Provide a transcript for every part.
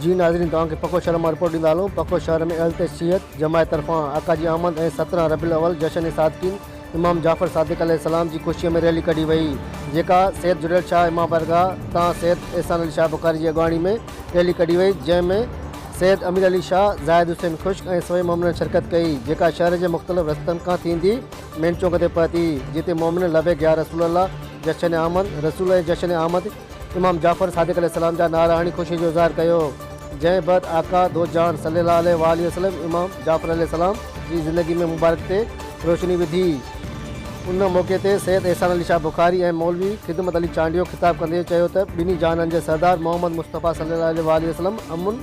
جي ناظرين توهان کي پکو شهر مان رپورٽ ڏيندا هلون پکو شهر ۾ اهل تشيعت جماعت طرفان آقا جي آمد ۽ سترهن ربيع الاول جشن صادقين امام جعفر صادق عليه السلام جي خوشي ۾ ريلي ڪڍي وئي جيڪا سيد جڙيل شاهه امام بارگاهه تان سيد احسان علي شاهه بخاري جي اڳواڻي ۾ ريلي ڪڍي وئي جنهن ۾ سيد امير علي شاهه زاهد حسين خشڪ ۽ سوين مؤمنن شرڪت ڪئي جيڪا شهر جي مختلف رستن کان ٿيندي مين چونڪ تي پهتي جتي مؤمنن لبيڪ يا رسول الله جشن آمد رسول ۽ جشن آمد امام جعفر صادق عليه السلام جا نعرا هڻي خوشي جو اظهار ڪيو، جنهن بعد آقا دو جهان صلي الله عليه واٰله وسلم امام جعفر عليه السلام جي زندگي ۾ مبارڪ تي روشني وڌي. ان موقعي تي سيد احسان علي شاهه بخاري ۽ مولوي خدمت علي چانڊيو خطاب ڪندي چيو ته ٻنهي جهانن جي سردار محمد مصطفيٰ صلي الله عليه واٰله وسلم امن،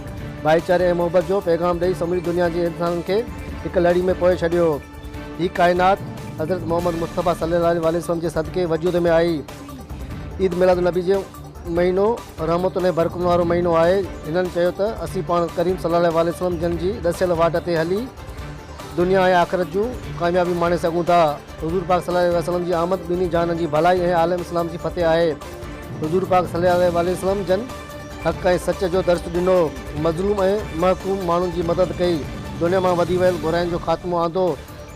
ڀائيچاري ۽ محبت جو پيغام ڏئي سموري دنيا جي انسانن کي هڪ لڙي ۾ پوئي ڇڏيو. هي ڪائنات حضرت محمد مصطفيٰ صلي الله عليه واٰله وسلم جي صدقي وجود ۾ آئي. عيد ميلاد النبي جو مهينو رحمتن ۽ برڪتن وارو مهينو آهي. هنن چيو ته اسين پاڻ ڪريم صلي الله عليه وسلم جن جي ڏسيل واٽ تي هلي دنيا ۽ آخرت جون ڪاميابيون ماڻي سگهون ٿا. حضور پاڪ صلي الله عليه وسلم جي آمد ٻنهي جهانن جي ڀلائي ۽ عالم اسلام جي فتح آهي. حضور پاڪ صلي الله عليه وسلم جن حق ۽ سچ جو درس ڏنو، مظلوم ۽ محڪوم ماڻهن جي مدد ڪئي، دنيا مان وڌي ويل برائين جو خاتمو آندو،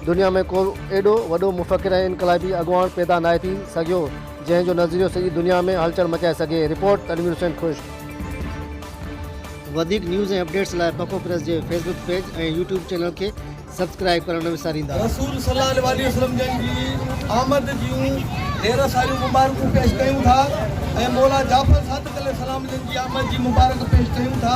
دنيا ۾ ڪو ايڏو وڏو مفڪر ۽ انقلابي اڳواڻ پيدا ناهي ٿي سگهيو، جنهن جو نظريو سڄي دنيا ۾ هلچل مچائي سگهي، رپورٽ، تنوير حسين خشڪ. وڌيڪ نيوز ۽ اپڊيٽس لاء پکو پريس جي Facebook page ۽ YouTube channel کي سبسڪرائيب ڪرڻ نه وساريندا. رسول صلي الله عليه وسلم جن جي آمد جون ڍير ساريون مبارڪون پيش ڪيون ٿا ۽ مولا جعفر صادق عليه السلام جن جي آمد جي مبارڪ پيش ڪيون ٿا.